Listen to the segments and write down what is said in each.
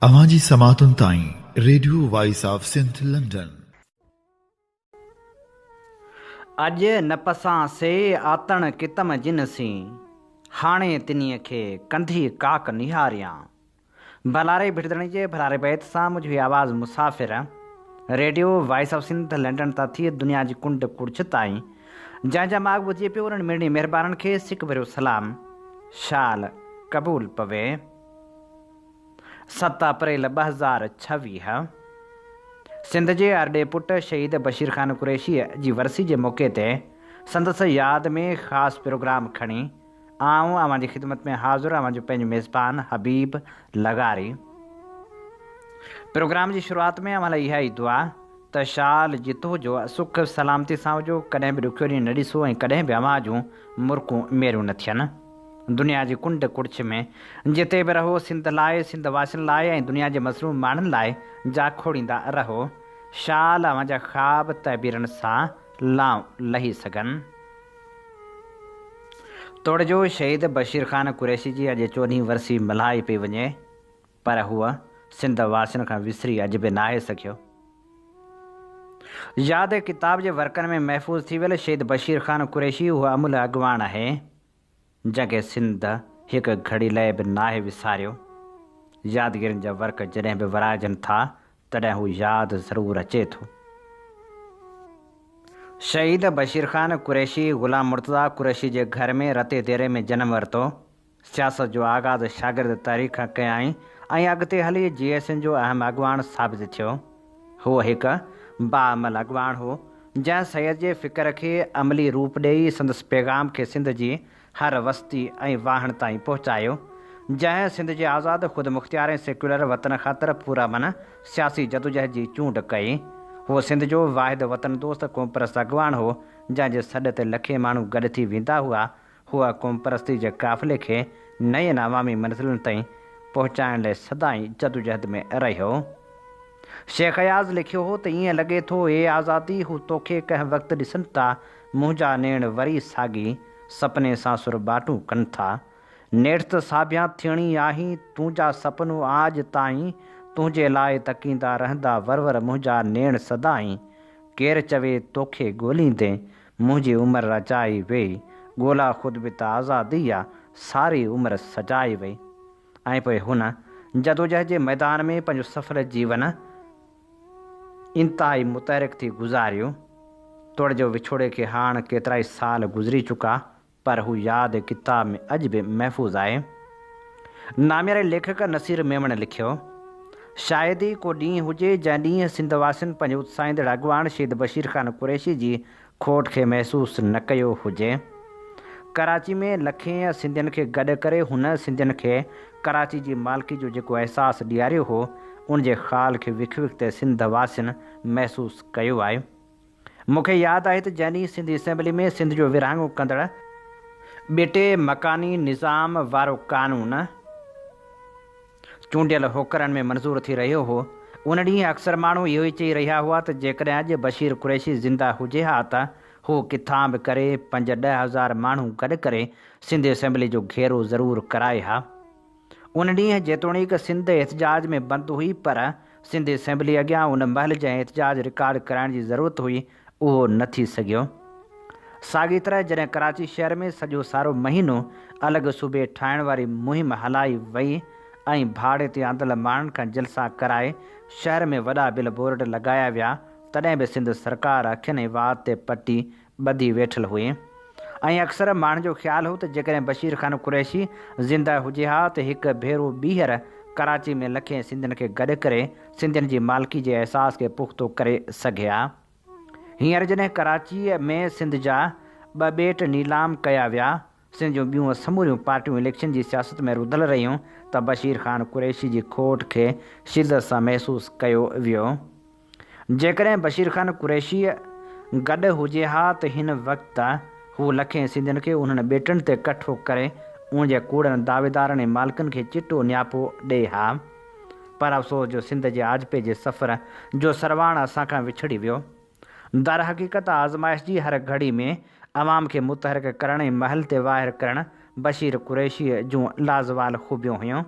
اوهان جي سماعتن تائين radio voice of Sindh London. اڄ نه پسان سي آتڻ ڪتم جن سين، هاڻي تنيء کي ڪنڌي ڪاڪ نهاريان. ڀلاري ڀٽدڻي جي ڀلاري بيت سان منهنجو هي آواز مسافر radio voice of Sindh London تان ٿي دنيا جي ڪنڊ ڪڙڇ تائين جنهن جا ماڳ ٻڌي پيو انهن ميڙني مهربانن کي سڪ ڀريو سلام شال قبول پوي ست اپريل ٻه هزار ڇويهه سنڌ جي ارڏي پٽ شهيد بشير خان قريشي جي ورسي جي موقعي تي سندس ياد ۾ خاص پروگرام کڻي آئون اوهان جي خدمت ۾ حاضر اوهان جو پنهنجو ميزبان حبيب لغاري. پروگرام جي شروعات ۾ اوهان لاء اها ئي دعا ته شال جت هجو، سک سلامتي سان هجو، ڪڏهن به ڏکيو ڏينهن نه ڏسو ۽ ڪڏهن به اوهان جون مرڪون ميريون نه ٿين. دنيا جي ڪنڊ ڪڙڇ ۾ جتي به رهو سنڌ لاء، سنڌ واسين لاء ۽ دنيا جي مظلوم ماڻهن لاء جا کوڙيندا رهو. شال اوهان جا خواب تعبيرن سان لانء لهي سگهن. توڙجو شهيد بشير خان قريشي جي اڄ چوڏهين ورسي ملهائي پئي وڃي پر هو سنڌ واسين کان وسري اڄ به ناهي سگهيو. ياد ڪتاب جي ورقن ۾ محفوظ ٿي ويل شهيد بشير خان قريشي اهو املهه اڳواڻ آهي. جنهن کي سنڌ هڪ گهڙي لئه به ناهي وساريو. يادگيرين جا ورق جڏهن به ورائجن ٿا تڏهن هو ياد ضرور اچي ٿو. شهيد بشير خان قريشي غلام مرتضيٰ قريشي جي گهر ۾ رتي ديري ۾ جنم ورتو. سياست جو آغاز شاگرد تحريڪ کان ڪيائين ۽ اڳتي هلي جي ايس اين جو اهم اڳواڻ ثابت ٿيو. هو هڪ باعمل اڳواڻ هو، جنهن سيد جي فڪر کي عملي روپ ڏيئي سندس پيغام کي سنڌ جي هر وستي ۽ واهڻ تائين پهچايو، جنهن سنڌ جي آزاد، خودمختيار ۽ سيڪيولر وطن خاطر پرامن سياسي جدوجهد جي چونڊ ڪئي. هو سنڌ جو واحد وطن دوست قومپرست اڳواڻ هو، جنهن جي سڏ تي لکين ماڻهو گڏ ٿي ويندا هئا هو قومپرستي جي قافلي کي نين عوامي منزلن تائين پهچائڻ لاء سدائين جدوجهد ۾ رهيو. شيخ اياز لکيو هو ته ائين لڳي ٿو اي آزادي هو توکي ڪنهن وقت ڏسن ٿا، منهنجا نيڻ وري ساڳي سپني سان سرٻاٽون ڪن ٿا. نيٺ ته ساڀيان ٿيڻي آهي، تنهنجا سپنو آڄ تائين تنهنجي لاء تڪيندا رهندا ورور منهنجا نيڻ سدائين ڪير چوي توکي ڳوليندين منهنجي عمر رچائي ويئي، ڳولا خود به ته آزادي جا ساري عمر سجائي ويئي ۽ پوء هن جدوجهد جي ميدان ۾ پنهنجو سڦل جيون انتهائي متحرڪ ٿي گذاريو. توڙي جو وڇوڙي کي هاڻ ڪيترائي سال گذري چڪا پر هو ياد ڪتاب ۾ اڄ به محفوظ آهي. نامياري ليکڪ نصير ميمڻ لکيو، شايد ئي ڪو ڏينهن هجي جنهن ڏينهن سنڌ واسين پنهنجي اتساهيندڙ اڳواڻ شهيد بشير خان قريشي جي کوٽ کي محسوس نه ڪيو هجي. ڪراچي ۾ لکين سنڌين کي گڏ ڪري هن سنڌين کي ڪراچي جي مالڪي جو جيڪو احساس ڏياريو هو، ان جي خال کي وک وک تي سنڌ واسين محسوس ڪيو آهي. مون کي ياد آهي ته جنهن ڏينهن سنڌ اسيمبلي ۾ سنڌ جو ورهاڱو ڪندڙ ٻيٽي مڪاني نظام وارو قانون چونڊيل هوڪرن ۾ منظور ٿي رهيو هو ان ڏينهن اڪثر ماڻهو اهو ئي چئي رهيا هئا ته جيڪڏهن اڄ بشير قريشي زنده هجي ها ته هو ڪٿان به ڪري پنج ڏهه هزار ماڻهو گڏ ڪري سنڌ اسيمبلي جو گهيرو ضرور ڪرائي ها. ان ڏينهن جيتوڻيڪ سنڌ احتجاج ۾ بند هئي پر سنڌ اسيمبلي اڳيان ان مهل جنهن احتجاج رڪارڊ ڪرائڻ جي ضرورت هئي اهو نه ٿي سگهيو. ساڳي طرح جڏهن ڪراچي شهر ۾ سڄو سارو مهينو الڳ صوبي ٺاهڻ واري مهم هلائي وئي ۽ ڀاڙي تي آندل ماڻهن کان جلسا ڪرائي شهر ۾ وڏا بل بورڊ لڳايا ويا تڏهن به سنڌ سرڪار اکين ۽ وات تي پٽي ٻڌي ويٺل هئي ۽ اڪثر ماڻهن جو خيال هو ته جيڪڏهن بشير خان قريشي زنده هجي ها ته هڪ ڀيرو ٻيهر ڪراچي ۾ لکين سنڌين کي گڏ ڪري سنڌين جي مالڪي جي احساس کي پختو ڪري سگهي ها. هينئر جڏهن ڪراچيء ۾ سنڌ جا ٻه ٻيٽ نيلام ڪيا ويا سنڌ جون ٻيون سموريون پارٽيون اليڪشن جي سياست ۾ رڌل رهيون ته بشير خان قريشي جي کوٽ کي شدت سان محسوس ڪيو ويو. جيڪڏهن بشير خان قريشيء گڏ هجي ها ته هن وقت هو لکين سنڌين کي انهن ٻيٽن تي ڪٺو ڪري ان جي ڪوڙن دعويدارن ۽ مالڪن کي چٽو نياپو ڏئي ها. پر افسوس جو سنڌ جي آجپي جي سفر جو سرواڻ اسان کان وڇڙي ويو. درحقيقت آزمائش جي هر گهڙي ۾ عوام کي متحرڪ ڪرڻ ۽ محل تي واهر ڪرڻ بشير قريشيء جون لازوال خوبيون هيون.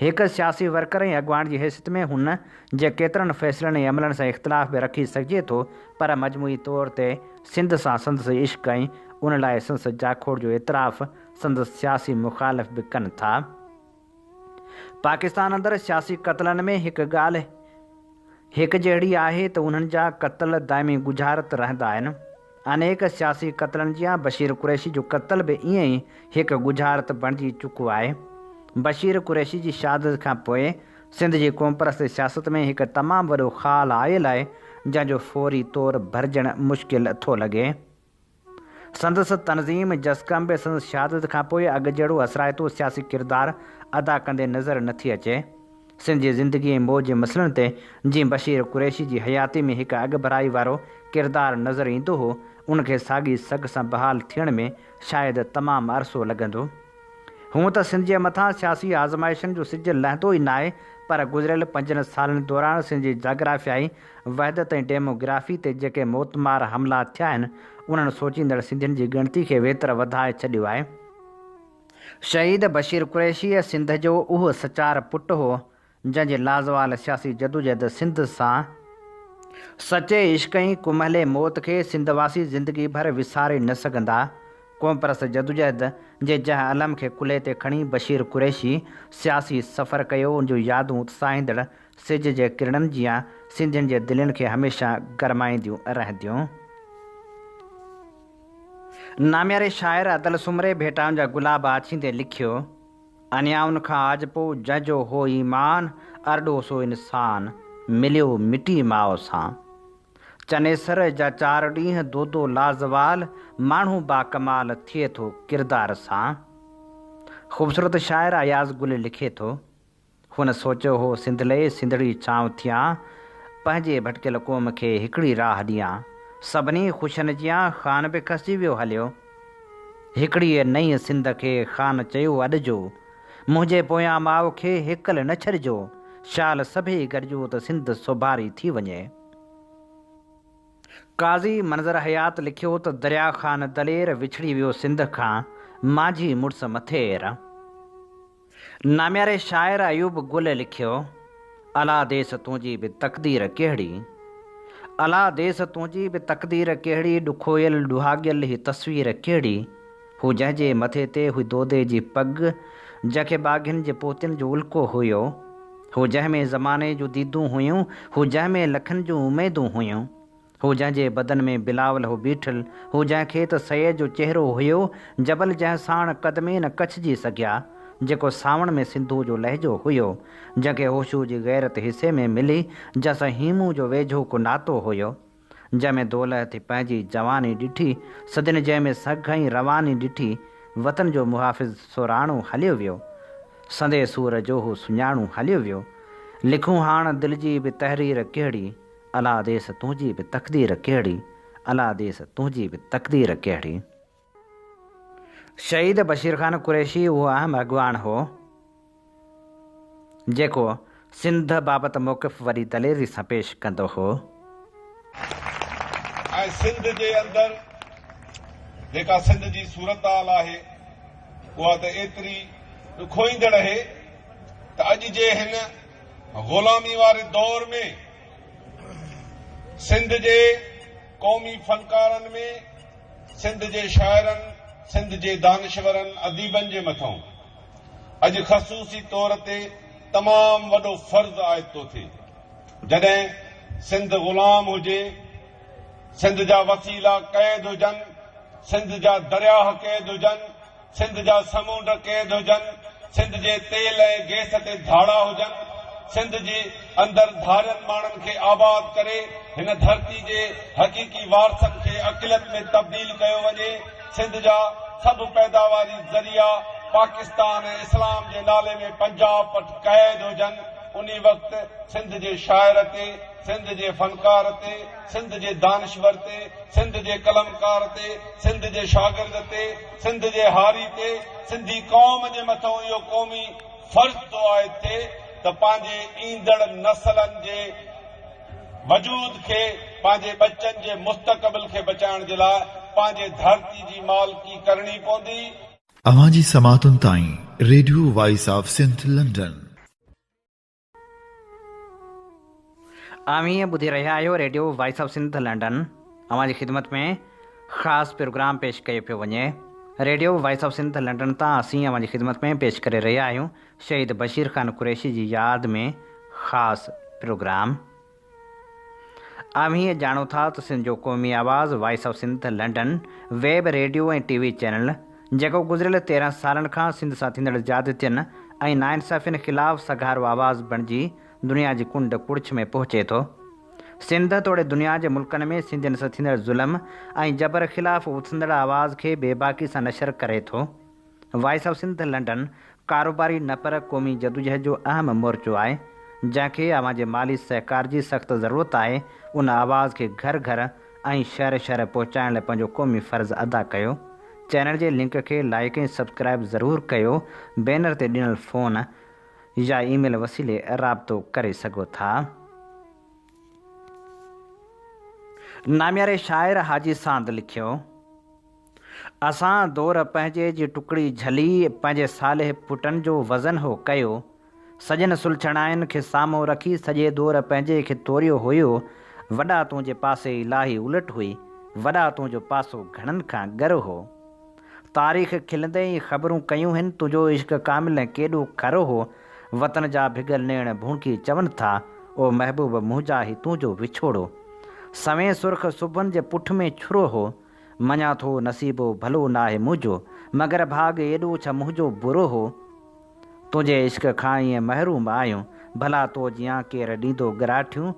هڪ سياسي ورڪر ۽ اڳواڻ جي حيثيت ۾ هن جي ڪيترن فيصلن ۽ عملن سان اختلاف به رکي سگهجي ٿو پر مجموعي طور تي سنڌ سان سندس عشق ۽ ان لاء سندس جاکوڙ جو اعتراف سندس سياسي مخالف به ڪن ٿا. پاڪستان اندر سياسي قتلن ۾ هڪ ڳالهه هڪ جهڙي آهي ته انهن جا قتل دائمي ڳجهارت رهندا آهن. انيڪ سياسي قتلن جيان بشير قريشي جو قتل به ائين ئي هڪ ڳجهارت بڻجي چڪو آهي. بشير قريشي جي شهادت کان پوء سنڌ جي قومپرست سياست ۾ هڪ تمام وڏو خال آيل آهي جنهن جو فوري طور ڀرجڻ مشڪل ٿو لڳي. سندس تنظيم جسقم به سندس شهادت کان پوء اڳ جهڙو اثرائتو سياسي ڪردار ادا ڪندي نظر نه ٿي اچي. سنڌ جي زندگي ۽ موت جي مسئلن تي جيئن بشير قريشي جي حياتي ۾ هڪ اڳڀرائي وارو ڪردار نظر ايندو هو، ان کي ساڳي سگهه سان بحال ٿيڻ ۾ شايد تمام عرصو لڳندو. هونء ته سنڌ جي مٿان سياسي آزمائشن جو سج لهندو ئي ناهي، پر گذريل پنجن سالن دوران سنڌ جي جاگرافيائي وحدت ۽ ڊيموگرافي تي جيڪي موتمار حملا ٿيا آهن، انهن سوچيندڙ سنڌين جي ڳڻتي کي ويتر وڌائي ڇڏيو آهي. شهيد بشير قريشيء سنڌ جو اهو سچار پٽ هو، جنهن جي لازوال سياسي جدوجهد سنڌ سان سچي عشق ۽ ڪمهلي موت کي سنڌ واسي زندگي ڀر وساري نه سگهندا. قومپرست جدوجهد جي جنهن علم کي ڪلهي تي کڻي بشير قريشي سياسي سفر ڪيو، ان جون يادون اتساهيندڙ سج جي ڪرڻن جيان سنڌين جي دلين کي هميشه گرمائينديون رهنديون. نامياري شاعر ادل سومري ڀيٽائن جا گلاب آڇيندي لکيو، انيائن کان آجپو جنهن جو هو ايمان، ارڏو سو انسان، مليو مٽي ماء سان. چنيسر جا چار ڏينهن دودو لازوال، ماڻهو باڪمال ٿئي ٿو ڪردار سان. خوبصورت شاعر اياز گل لکي ٿو. هن سوچيو هو سنڌ لئي سنڌڙي ڇانو ٿيان، پنهنجي ڀٽڪيل قوم کي هڪڙي راهه ڏيان. سڀني خوشن جيان خان به کسجي ويو هليو. هڪڙيء نئين سنڌ کي خان چيو اڏجو. منهنجي پويان ماء کي هيڪل نه ڇڏجو. شال سڀيئي گڏجو ته سنڌ سوڀاري ٿي وڃي. قاضي منظر حيات لکيو ته دريا خان دلير وڇڙي ويو سنڌ کان، مانجهي مڙس مٿير. نامياري شاعر ايوب گل لکيو، الا ديس تنهنجي به تقدير ڪهڙي، الا ديس تنهنجي به تقدير ڪهڙي، ڏکويل ڏهاڳيل هي تصوير ڪهڙي، هو جنهن جي مٿي تي هئي دودي جي پڳ، جنهن کي ٻاگهين جي پوتين جو الڪو هيو، هو جنهن ۾ زماني جون ديدون هيون، هو جنهن ۾ لکن جون اميدون هيون. هو جنهن جي بدن ۾ بلاول هو بيٺل، هو جنهن کي ته سيد جو چهرو هيو، جبل جنهن ساڻ قدمي نه ڪڇجي سگهيا، جيڪو سانوڻ ۾ سنڌوء جو لهجو هيو، جنهن کي هوشوء جي غيرت حصي ۾ ملي، جنهن سان هيمون جو ويجهو ڪو ناتو هيو، جنهن ۾ دولهه ٿي پنهنجي جواني ڏٺي، سدين جنهن ۾ سگهه ۽ رواني ڏٺي، وطن جو محافظ سوراڻو هليو ويو، سندي سور جو هو سڃاڻو هليو ويو، لکون هاڻ دل جي به تحرير ڪهڙي؟ الا ديس تنهنجي به تقدير ڪهڙي الا ديس تنهنجي به تقدير ڪهڙي. شهيد بشير خان قريشي اهو اهم اڳواڻ هو جيڪو سنڌ بابت موقف وڏي دليري سان پيش ڪندو هو. ۽ سنڌ جي اندر جيڪا سنڌ جي صورتحال آهي اها ته ايتري ڏکوئيندڙ اهي ته اڄ جي هن غلامي واري دور ۾ سنڌ جي قومي فنڪارن ۾ سنڌ جي شاعرن، سنڌ جي دانشورن، اديبن جي مٿئون اڄ خصوصي طور تي تمام وڏو فرض عائد ٿو ٿئي. جڏهن سنڌ غلام هجي، سنڌ جا وسيلا قيد هجن، سنڌ جا درياهه قيد هجن، سنڌ جا سمونڊ قيد هجن، سنڌ جي تيل ۽ گيس تي ڌاڙا هجن، سنڌ جي اندر ڌارين ماڻهن کي آباد ڪري هن ڌرتي جي حقيقي وارثن کي اقليت ۾ تبديل ڪيو وڃي، سنڌ جا سڀ پيداواري ذريعا پاڪستان ۽ اسلام جي نالي ۾ پنجاب وٽ قيد هجن، انهي وقت سنڌ جي شاعر تي، سنڌ جي فنڪار تي، سنڌ جي دانشور تي، سنڌ جي قلمڪار تي، سنڌ جي شاگرد تي، سنڌ جي هاري تي سنڌي قوم جي مٿئون اهو قومي فرض ٿو عائد ٿئي ته پنهنجي ايندڙ نسلن جي وجود کي، پنهنجي ٻچن جي مستقبل کي بچائڻ جي لاء پنهنجي ڌرتي جي مالڪي ڪرڻي پوندي. اوهان جي سماعتن تائين radio voice of Sindh London. اوهين ٻڌي رهيا آهيو radio voice of Sindh London اوهان جي خدمت ۾ خاص پروگرام پيش ڪيو پيو وڃي radio voice of Sindh London تان اسين اوهان جي خدمت ۾ پيش ڪري رهيا آهيون شهيد بشير خان قريشي جي ياد ۾ خاص پروگرام اوهين ڄاڻو ٿا ته سنڌ جو قومي آواز voice of Sindh London web radio ۽ T V channel جيڪو گذريل تيرهن سالن کان سنڌ سان ٿيندڙ زيادتين ۽ ناانصافين خلاف سگهارو آواز بڻجي دنيا جي ڪنڊ ڪڙڇ ۾ پهچي ٿو سنڌ توڙي دنيا جي ملڪن ۾ سنڌين سان ٿيندڙ ظلم ۽ جبر خلاف اٿندڙ آواز کي بيباڪي سان نشر ڪري ٿو. وائس آف سنڌ لنڊن، ڪاروباري نه پر قومي جدوجهد جو اهم مورچو آهي، جنهن کي اوهان جي مالي سهڪار جي سخت ضرورت آهي، ان آواز کي گهر گهر ۽ شهر شهر پهچائڻ لاء پنهنجو قومي فرض ادا ڪيو، چينل جي لنڪ کي لائيڪ ۽ سبسڪرائيب ضرور ڪيو، بينر تي ڏنل فون يا اي ميل وسيلي رابطو ڪري سگهو ٿا. نامياري شاعر حاجي ساند لکيو. اسان دور پنهنجي جي ٽڪڙي جهلي پنهنجي صالح پٽن جو وزن هو ڪيو سڄن سلڇڻائن کي سامهون رکي سڄي دور پنهنجي کي توريو هيو وڏا تون جي پاسي الاهي الٽ هئي وڏا تون جو پاسو گهڻن کان ڳر هو تاريخ کلندي ئي خبرون ڪيون هن تنهنجو عشق ڪامل ۽ ڪيڏو کر هو وطن جا ڀڳل نيڻ ڀونڪي چون ٿا او محبوب منهنجا هي تون جو وڇوڙو سوين سرخ سڀن جي پٺ ۾ ڇرو هو. مڃان ٿو نصيب ڀلو ناهي منهنجو، مگر ڀاڳ ايڏو ڇا منهنجو برو هو. تنهنجي عشق کان ائين محروم آهيون، ڀلا تو جيان ڪير ڏيندو ڳراٺيون.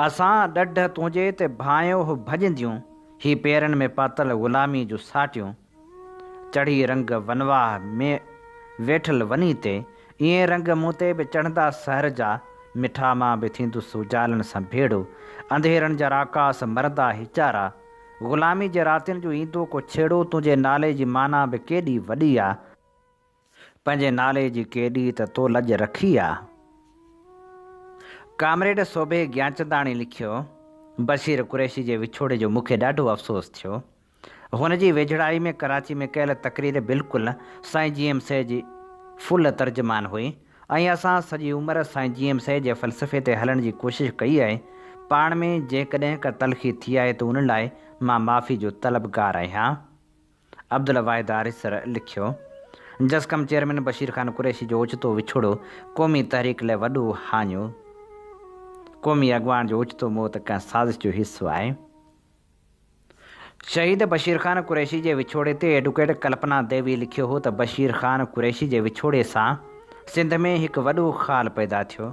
اسان ڏڍ تنهنجي تي ڀانئيو هو ڀڄنديون، هي پيرن ۾ پاتل غلامي جون ساٽيون. چڙهي رنگ ونواهه ۾ ويٺل وني تي، ائين رنگ مون تي به چڙهندا سحر جا، مٺا مان به ٿيندس اجالن سان ڀيڙو، انڌيرن جا راڪاس مرندا هيچارا، غلامي جي راتين جو ايندو ڪو ڇيڙو، تنهنجي نالي جي معنيٰ به ڪيڏي وڏي آ، پنهنجي نالي جي ڪيڏي ته تو لڄ رکي آ. ڪامريڊ صوڀي گيانچنداڻي لکيو، بشير قريشي جي وڇوڙي جو مون کي ڏاڍو افسوس ٿيو. هن جي ويجهڙائي ۾ ڪراچي ۾ ڪيل تقرير بلڪل سائين جي ايم سي جي فل ترجمان هئي ۽ اسان سڄي عمر سائين جي ايم سي جي فلسفي تي هلڻ جي ڪوشش ڪئي آهي. پاڻ ۾ جيڪڏهن ڪا تلخي ٿي آهي ته ان لاء مان معافي جو طلبگار آهيان. عبدالواحد آريسر لکيو، جسقم چيئرمين بشير خان قريشي جو اوچتو وڇوڙو قومي تحريڪ لاء وڏو هاڃو. قومي اڳواڻ جو اوچتو موت ڪنهن سازش جو حصو آهي. شهيد بشير خان قريشي جي وڇوڙي تي ايڊوڪيٽ ڪلپنا ديوي لکيو هو ته بشير خان قريشي جي وڇوڙي سان سنڌ ۾ هڪ وڏو خال پيدا ٿيو.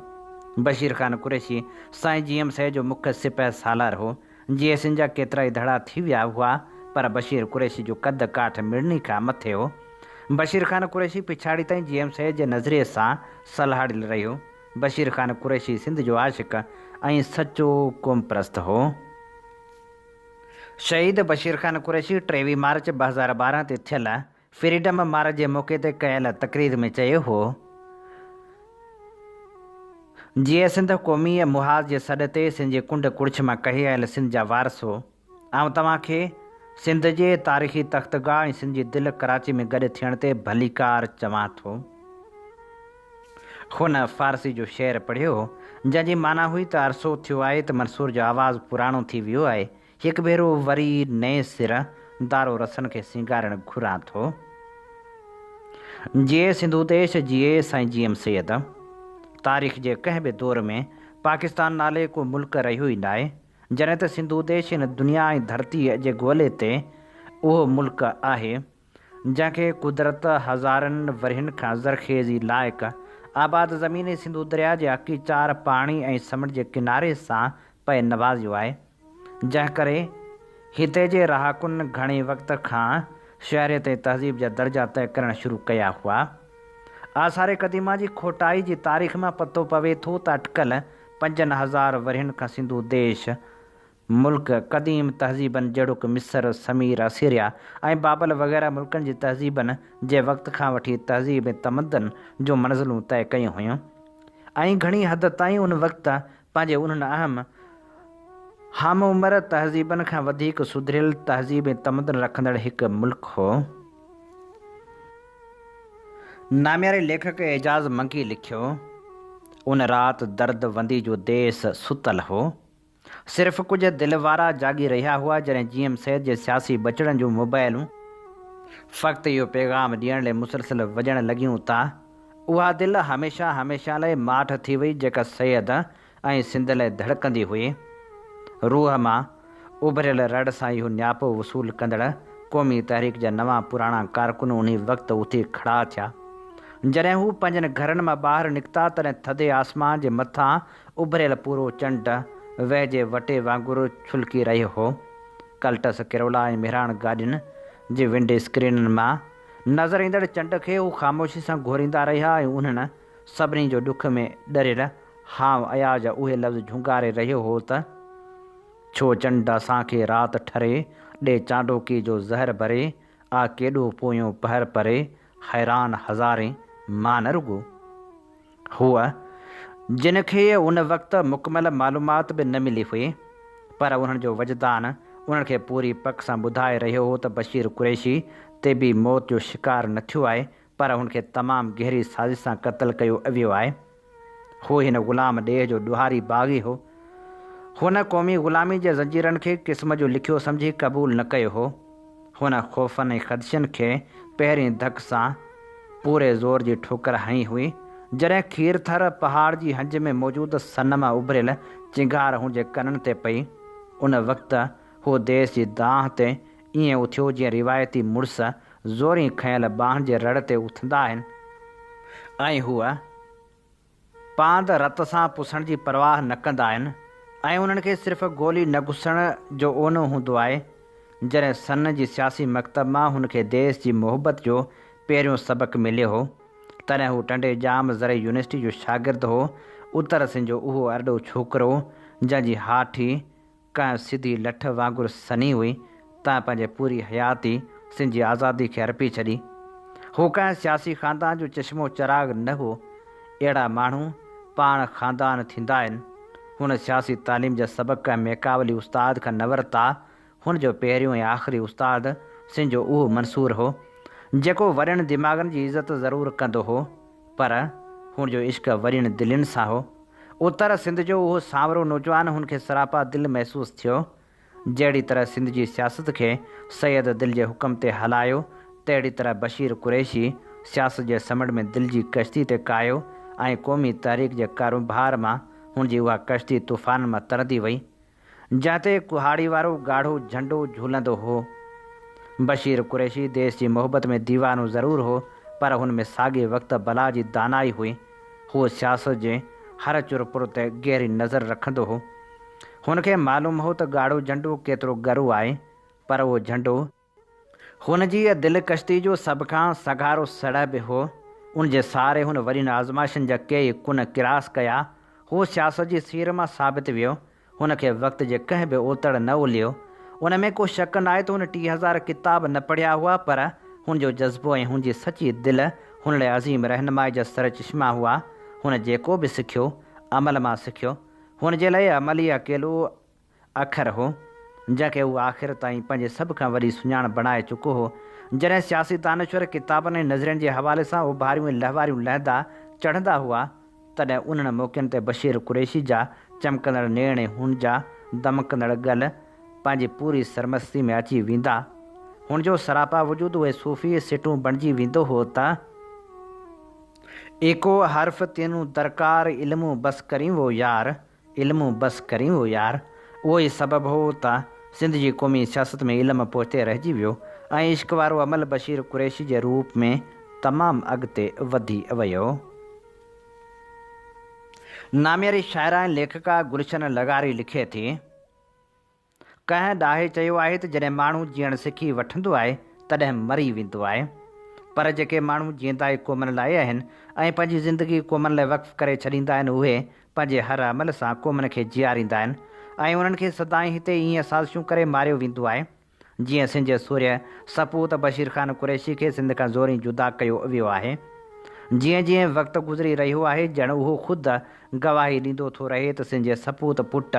بشير خان قريشي سائين جي ايم سيد جو مک سپهه سالار هو. جي ايس اين جا ڪيترائي دڙا ٿي ويا هئا پر بشير قريشي جو قد ڪاٺ مڙني کان مٿي هو. بشير خان قريشي پڇاڙي تائين جي ايم سيد جي نظرئي سان سلهاڙيل رهيو. بشير خان قريشي سنڌ جو عاشق ۽ سچو قومپرست هو. شهيد بشير خان قريشي ٽيويهه مارچ ٻه هزار ٻارهن تي ٿيل فريڊم مارچ جي موقعي تي ڪيل تقرير ۾ چيو هو جيئي سنڌ قوميء محاذ جي سڏ تي سن جي ڪنڊ ڪڙڇ مان ڪهي آيل سن جا وارثو آئون توهان کي سنڌ جي تاريخي تختگاهه ۽ سن جي دل ڪراچي ۾ گڏ ٿيڻ تي ڀليڪار چوان ٿو. هن فارسي جو شعر پڙهيو جنهن جي معنيٰ هئي ته عرصو ٿيو آهي ته منصور جو آواز پراڻو ٿي ويو آهي هڪ ڀيرو وري نئين سر دارو رسن کي سينگارڻ گهران ٿو. جيئي سنڌو ديش، جيئي سائين جي ايم سيد. تاريخ جي ڪنهن به دور ۾ پاڪستان نالي ڪو ملڪ رهيو ئي ناهي، جڏهن ته سنڌو ديش هن دنيا ۽ ڌرتيء جي گولي تي اهو ملڪ آهي. جنهن کي قدرت هزارن ورهين کان زرخيزي لائق آباد زمين ۽ سنڌو درياء جي اڪي چار پاڻي ۽ سمنڊ جي ڪناري سان پئي نوازيو آهي، جنهن ڪري هتي جي رهاڪن گهڻي وقت کان شهريت ۽ تهذيب جا درجا طئي ڪرڻ شروع ڪيا هئا. آثار قديمه جي کوٽائي جي تاريخ مان پتو پوي ٿو ته اٽڪل پنجن هزار ورهين کان سنڌو ديش ملڪ قديم تهذيبن جهڙوڪ مصر، سمير، اسيريا ۽ بابل وغيره ملڪن جي تهذيبن جي وقت کان وٺي تهذيب ۽ تمدن جون منزلون طئي ڪيون هيون ۽ گهڻي حد تائين ان وقت پنهنجي انهن اهم همعمر تهذيبن کان وڌيڪ سڌريل تهذيب ۽ تمدن رکندڙ هڪ ملڪ هو. نامياري ليکڪ اعجاز منگي لکيو، ان رات درد وندي جو ديس ستل هو. صرف ڪجهه دل وارا جاڳي رهيا هئا جڏهن جي ايم سيد جي سياسي ٻچڙن جون موبائلون فقط اهو پيغام ڏيڻ لئي مسلسل وڄڻ لڳيون ته اها دل هميشه هميشه لاء ماٺ ٿي وئي جيڪا سيد ۽ سنڌ لاء ڌڙڪندي هئي. روح مان اڀريل رڙ سان اهو نياپو وصول ڪندڙ قومي تحريڪ جا نوان پراڻا ڪارڪن انهي وقت اٿي کڙا ٿيا جڏهن هو پنهنجن گهرن مان ٻاهر نڪتا تڏهن ٿڌي آسمان جي مٿان اڀريل پورو چنڊ ويهه جي وٽي وانگر ڇلڪي رهيو هو. ڪلٽس ڪرولا ۽ مهراڻ گاڏين جي ونڊ اسڪرينن مان نظر ايندڙ چنڊ کي هو خاموشي سان گهوريندا رهيا ۽ انهن سڀني جو ڏک ۾ ڏريل هانء اياز اهي لفظ جهونگاري رهيو هو ته، ڇو چنڊ اسان کي رات ٺري ڏي چانڊوڪي جو زهر ڀري آ ڪيڏو پويون پهر پري حيران هزارين مان نه رڳو هوء، جن کي ان وقت مڪمل معلومات به نه ملي هئي، پر انهن جو وجدان انهن کي پوري پڪ سان ٻڌائي رهيو هو ته بشير قريشي طبعي موت جو شڪار نه ٿيو آهي، پر هن کي تمام گهري سازش سان قتل ڪيو ويو آهي. هو هن غلام ڏيهه جو ڏوهاري باغي هو. هن قومي غلامي جي زنجيرن کي قسم جو لکيو سمجهي قبول نه ڪيو هو. هن خوفن ۽ خدشن کي پهرين ڌڪ سان پوري زور جي ٺوڪر هنئي هئي، جڏهن کير ٿر پهاڙ جي هنج ۾ موجود سنم اڀريل چنگهار هن جي ڪنن تي پئي. ان وقت هو ديس جي دانهن تي ائين اٿيو جيئن روايتي مڙس زورين کنيل ٻانهن جي رڙ تي اٿندا آهن ۽ هو پاند رت سان پسڻ جي پرواهه نه ڪندا آهن ۽ انهن کي صرف گولي نه گسڻ جو اونو هوندو آهي، جڏهن سن جي سياسي مڪتب مان هن کي ديس جي محبت جو پهريون سبق مليو هو، تڏهن هو ٽنڊي ڄام زرعي يونيورسٽي جو شاگرد هو، اتر سنڌ جو اهو ارڏو ڇوڪرو جنهن جي هاٺي ڪنهن سڌي لٺ وانگر سنهي هئي، تنهن پنهنجي پوري حياتي سنڌ جي آزادي کي ارپي ڇڏي. هو ڪنهن سياسي خاندان جو چشمو چراغ نه هو. اهڙا ماڻهو پاڻ خاندان ٿيندا آهن. هن سياسي تعليم جا سبق ڪنهن ميڪاولي استاد کان نه ورتا. هن جو پهريون ۽ آخري استاد سنڌ جو اهو منصور هو، جيڪو وڏن دماغن جي عزت ضرور ڪندو هو. پر هن جو عشق ورين دلين سان هو. اتر سنڌ جو اهو سانورو نوجوان هن کي سراپا دل محسوس ٿيو. جهڙي طرح سنڌ جي سياست کي سيد دل جي حڪم تي هلايو، تهڙي طرح بشير قريشي سياست جي سمنڊ ۾ دل جي ڪشتي تي ڪاهيو ۽ قومي تحريڪ جي ڪارونڀار مان هن جي اها ڪشتي طوفانن مان ترندي وئي. جنهن تي ڪهاڙي وارو ڳاڙهو جهنڊو جهولندو هو. بشير قريشي ديس جي محبت ۾ ديوانو ضرور هو پر هن ۾ ساڳئي وقت بلا جي دانائي هئي. هو سياست جي هر چر پر تي گهري نظر رکندو هو. هن کي معلوم هو ته ڳاڙهو جهنڊو ڪيترو ڳرو آهي پر اهو جهنڊو. هن جي دلڪشي جو سڀ کان سگهارو سڙهه به هو. ان جي سهاري هن وڏين آزمائشن جا ڪيئي ڪن ڪراس ڪيا. هو سياست جي سير مان ثابت ويو. هن کي وقت جي ڪنهن به اوتڙ نه الهيو. ان ۾ ڪو شڪ ناهي ته هن ٽيهه هزار ڪتاب نه پڙهيا هئا پر هن جو جذبو ۽ هن جي سچي دل هن لاء عظيم رهنمائي جا سرچشما هئا. هن جيڪو به سکيو، عمل مان سکيو. هن جي لاء عمل ئي اڪيلو اکر هو، جنهن کي هو آخر تائين پنهنجي سڀ کان وڏي سڃاڻپ بڻائي چڪو هو. جڏهن سياسي دانشور ڪتابن ۽ نظرين جي حوالي سان اوڀاريون ۽ لهواريون لهندا چڙهندا هئا، تڏهن انهن موقعن تي بشير قريشي جا چمڪندڙ نيڻ ۽ هن جا دمڪندڙ ڳل پنهنجي پوري سرمستي ۾ اچي ويندا. هن جو سراپا وجود اهي صوفي سٽون بڻجي ويندو هو ته. ايڪو حرف تينون درڪار، علمون بس ڪرين وو يار. علم بس ڪرين هو يار. اهو ئي سبب هو ته سنڌ جي قومي سياست ۾ علم پوئتي رهجي ويو ۽ عشق وارو عمل بشير قريشي جي روپ ۾ تمام اڳتي وڌي ويو. نامياري شاعره ۽ ليکڪا گلشن لغاري لکي ٿي. ڪنهن ڏاهي چيو آهي ته جڏهن ماڻهو جيئڻ سکي وٺندو آهي تڏهن مري ويندو آهي پر جيڪي ماڻهو جيئندا ئي قومن لاء آهن ۽ پنهنجي زندگي قومن لاء وقف ڪري ڇڏيندا آهن اهي پنهنجي هر عمل سان قومن کي جيئاريندا آهن ۽ انهن کي سدائين هتي ايئن سازشون ڪري ماريو ويندو آهي جيئن سنڌ جي سورهيه سپوت بشير خان قريشي کي سنڌ کان زورين جدا ڪيو ويو آهي جيئن جيئن وقت گذري رهيو آهي ڄڻ اهو خود گواهي ڏيندو ٿو رهي ته سنجي سپوت پٽ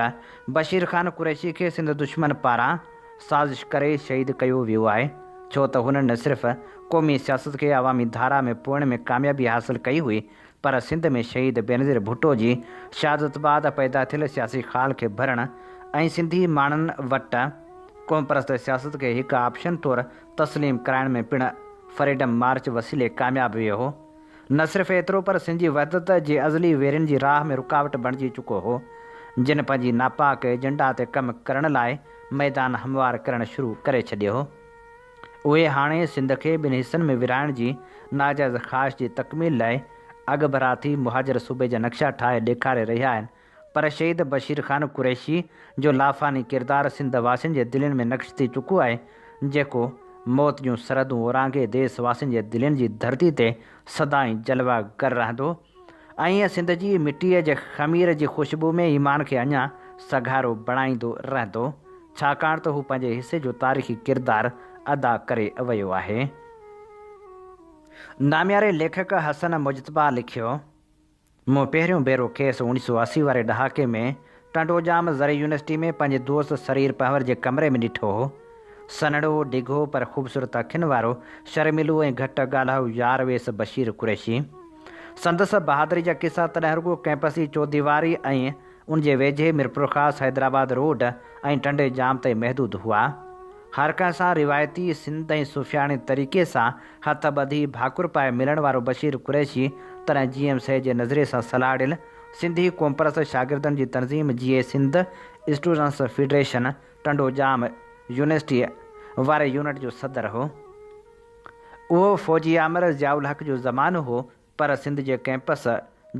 بشير خان قريشي کي سنڌ دشمن پاران سازش ڪري شهيد ڪيو ويو آهي ڇو ته هن نه صرف قومي سياست کي عوامي ڌارا ۾ پوئڻ ۾ ڪاميابي حاصل ڪئي هئي پر سنڌ ۾ شهيد بينظير ڀٽو جي شهادت بعد پيدا ٿيل سياسي خال کي ڀرڻ ۽ سنڌي ماڻهن وٽ قومپرست سياست کي هڪ آپشن طور تسليم ڪرائڻ ۾ پڻ فريڊم مارچ وسيلي ڪامياب ويو هو. نه صرف ايترو پر سنڌ جي وحدت جي ازلي ويرين جي راهه ۾ رڪاوٽ بڻجي چڪو هو، جن پنهنجي ناپاڪ ايجنڊا تي ڪم ڪرڻ لاء ميدان هموار ڪرڻ شروع ڪري ڇڏيو هو. اهي هاڻي سنڌ کي ٻن حصن ۾ ورهائڻ جي ناجائز خواهش جي تڪميل لاء اڳڀرا ٿي مهاجر صوبي جا نقشا ٺاهي ڏيکاري رهيا آهن پر شهيد بشير خان قريشي جو لافاني ڪردار سنڌ واسين جي دلين ۾ نقش ٿي چڪو آهي، جيڪو موت جون سرحدون اورانگهي ديس واسين جي دلين جي ڌرتي تي سدائين جلوه گر رهندو ۽ سنڌ جي مٽيء جي خمير جي خوشبو ۾ ايمان کي اڃا سگهارو بڻائيندو رهندو، ڇاڪاڻ ته هو پنهنجي حصي جو تاريخي ڪردار ادا ڪري ويو آهي. نامياري ليکڪ حسن مجتبيٰ لکيو. مون پهريون ڀيرو کيس اوڻيهه سؤ اسي واري ڏهاڪي ۾ ٽنڊوڄام زرعي يونيورسٽي ۾ پنهنجي دوست سرير پنهور جي ڪمري ۾ ڏٺو هو. سنهڙو، ڊگهو پر خوبصورت اکين وارو شرميلو ۽ گهٽ ڳالهائو يار ويس بشير قريشي. سندس بهادري جا قصا تڏهن رڳو ڪئمپس جي چوديواري ۽ ان جي ويجهي ميرپورخاص حيدرآباد روڊ ۽ ٽنڊي ڄام تائين محدود هئا. هر ڪنهن سان روايتي سنڌ ۽ صوفياڻي طريقي سان هٿ ٻڌي ڀاڪر پائي ملڻ وارو بشير قريشي تڏهن جي ايم سي جي نظرئي سان سلهاڙيل سنڌي قومپرست شاگردن جي تنظيم جي اي سنڌ اسٽوڊنس فيڊريشن ٽنڊو ڄام يونيورسٽيء واري يونٽ جو صدر هو. اهو فوجي آمر ضياء الحق جو زمانو هو پر سنڌ جي ڪئمپس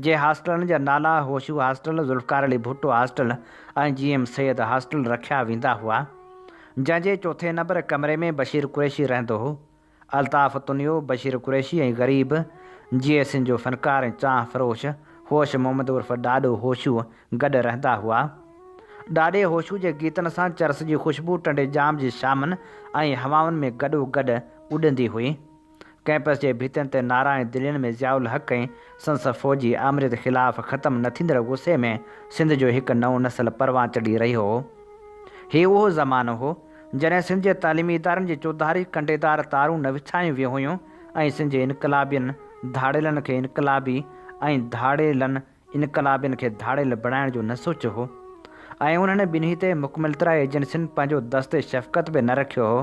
جي هاسٽلن جا نالا Hosho hostel, Zulfiqar Ali Bhutto hostel ۽ G M Syed hostel رکيا ويندا هئا، جنهن جي چوٿين نمبر ڪمري ۾ بشير قريشي رهندو هو. الطاف تنيو، بشير قريشي ۽ غريب جي اي سين جو فنڪار ۽ چانهه فروش هوش محمد عرف ڏاڏو هوشو گڏ رهندا هئا. ڏاڏي هوشو جي گيتن سان چرس جي خوشبو ٽنڊي ڄام جي شامن ۽ هوائن ۾ گڏو گڏ اڏندي هئي. ڪئمپس جي ڀتين تي نعرا ۽ دلين ۾ ضياء الحق ۽ سندس فوجي آمريت خلاف ختم نه ٿيندڙ غصي ۾ سنڌ جو هڪ نئون نسل پروان چڙهي رهيو هو. هي اهو زمانو هو، جڏهن سنڌ جي تعليمي ادارن جي چوڌاري ڪنڊيدار تارون نه وڇايون ويون هيون ۽ سنڌ جي انقلابين ڌاڙيلن کي انقلابي ۽ ڌاڙيلن انقلابين کي ڌاڙيل بڻائڻ جو نه سوچيو هو ۽ انهن ٻنهي تي مڪملترا ايجنسين پنهنجو دست شفقت به نه رکيو هو.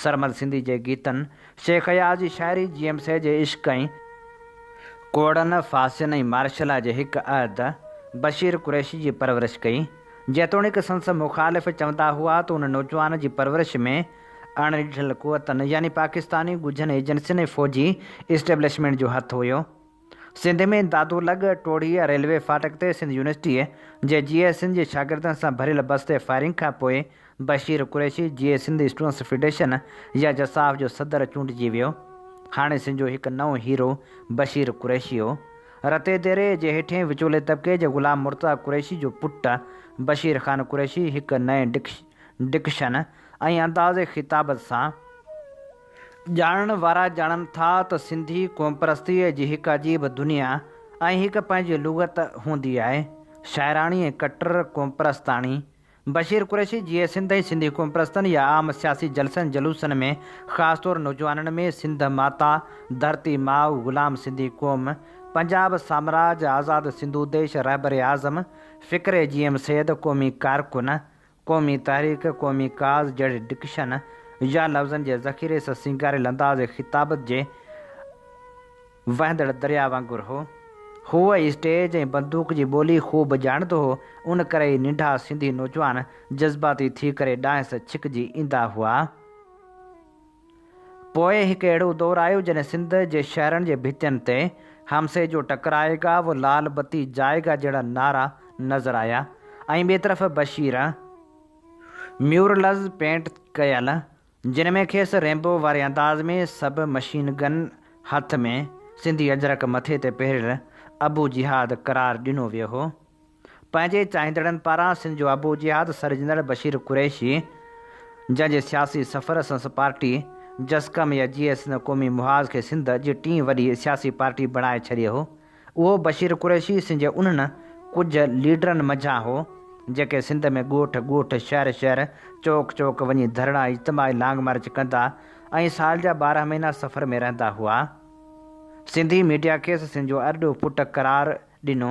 سرمد سنڌي جي گيتن، شيخ اياز جي شاعري، جي ايم سي جي عشق ۽. ڪوڙن، ڦاسين ۽ مارشلا جي هڪ عهد، بشير قريشي جي پرورش ڪئي. جيتوڻيڪ سندس مخالف چوندا هئا ته ان نوجوان جي پرورش ۾ اڻ ڏٺل قوتن يعني پاڪستاني ڳجهن ايجنسين ۽ فوجي اسٽيبلشمينٽ جو هٿ هيو. سنڌ ۾ دادو لڳ ٽوڙي ريلوي ڦاٽڪ تي سنڌ يونيورسٽيء جي جي اي سنڌ جي شاگردن سان ڀريل بس تي فائرنگ کان پوء بشير قريشي جي اي سنڌ اسٽوڊنٽس فيڊريشن يا جساف جو صدر چونڊجي ويو. هاڻي سنڌ جو هڪ نئون هيرو بشير قريشي هو. رتي ديري جي هيٺين وچولي طبقي جي غلام مرتضيٰ قريشي جو پٽ بشير خان قريشي هڪ نئين ڊڪشن ۽ انداز خطابت سان ڄاڻڻ وارا ڄاڻن ٿا ته سنڌي قومپرستيء جي هڪ عجيب دنيا ۽ هڪ پنهنجي لغت هوندي آهي. شاعراڻي ۽ ڪٽر قومپرستاڻي بشير قريشي جيئي سنڌ ۽ سنڌي قومپرستن يا عام سياسي جلسن جلوسن ۾ خاص طور نوجوانن ۾ سنڌ ماتا، ڌرتي ماء، غلام سنڌي قوم، پنجاب سامراج، آزاد سنڌو ديش، رهبر اعظم، فڪري جي ايم سيد، قومي ڪارڪن، قومي تحريڪ، قومي ڪاز جهڙي ڊڪشن يا لفظن جي ذخيري سان سينگاريل انداز خطابت جي وهندڙ درياء وانگر هو. هوء ئي اسٽيج ۽ بندوق جي ٻولي خوب ڄاڻندو هو، ان ڪري ئي ننڍا سنڌي نوجوان جذباتي ٿي ڪري ڏانهس ڇڪجي ايندا هئا. پوء هڪ اهڙو دور آيو جڏهن سنڌ جي شهرن جي ڀتين تي حمسي جو ٽڪرائي گا و لال بتي جائي گا جهڙا نعرا نظر آيا ۽ ٻئي طرف بشير ميورلز پينٽ ڪيل جن ۾ کيس ريمبو واري انداز ۾ سب مشين گن هٿ ۾ سنڌي اجرڪ مٿي تي پهريل ابو جهاد قرار ڏنو ويو هو. پنهنجي چاهيندڙن پاران سنڌ جو آبو جهاد سر جنرل بشير قريشي جنهن جي سياسي سفر سنس پارٽي جسقم يا جي ايس نه قومي محاذ کي سنڌ جي ٽين وڏي سياسي پارٽي بڻائي ڇڏي هو اهو بشير قريشي سنڌ جي انهن ڪجهه ليڊرن منجهان هو جيڪي سنڌ ۾ ڳوٺ ڳوٺ شهر شهر چوڪ چوڪ وڃي ڌرڻا اجتماعي لانگ مارچ ڪندا ۽ سال جا ٻارهن مهينا سفر ۾ رهندا هئا سنڌي ميڊيا کيس سنڌ جو ارڏو پٽ قرار ڏنو.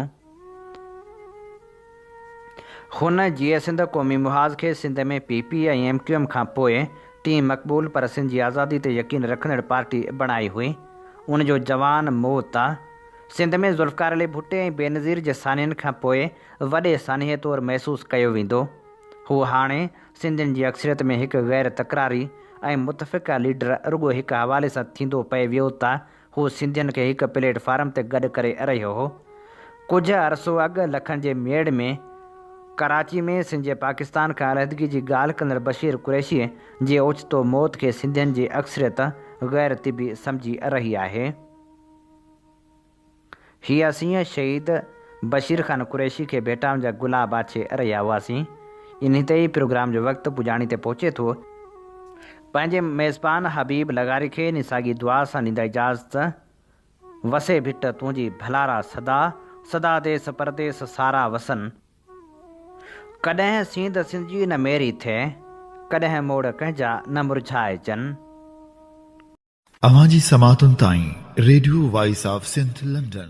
هن جيئي سنڌ قومي محاذ کي Sindh ۾ P P ۽ M Q M کان پوء ٽين مقبول پر سنڌ جي آزادي تي يقين رکندڙ پارٽي بڻائي هئي. ان جو جوان مئو تا. سنڌ ۾ ذوالفقار علي ڀٽي ۽ بينظير جي سانحن کان پوء وڏي سانحي طور محسوس ڪيو ويندو. هو هاڻي سنڌين جي اڪثريت ۾ هڪ غير تڪراري ۽ متفقه ليڊر رڳو هڪ حوالي سان ٿيندو پئي ويو تا هو سنڌين کي هڪ پليٽ فارم تي گڏ ڪري ارهيو هو. ڪجهه عرصو اڳ لکن جي ميڙ ۾ ڪراچي ۾ سنڌ جي پاڪستان کان علحدگي جي ڳالهه ڪندڙ بشير قريشيء جي اوچتو موت کي سنڌين جي اڪثريت غير طبي سمجهي ارهي آهي. هي اسين شهيد بشير خان قريشي کي ڀيٽائون جا گلا باڇي رهيا هئاسين. انهي تي ئي پروگرام جو وقت پڄاڻي تي پهچي ٿو. پنهنجي ميزبان حبيب لغاري کي انهي ساڳي دعا سان ڏيندا اجازت، وسي ڀٽ تنهنجي ڀلارا سدا، سدا ديس پرديس سارا وسن. ڪڏهن سينڌ سنجي نه ميري ٿئي، ڪڏهن موڙ ڪنهنجا نه مرجهائجن. اوهان جي سماعتن تائين radio voice of Sindh London.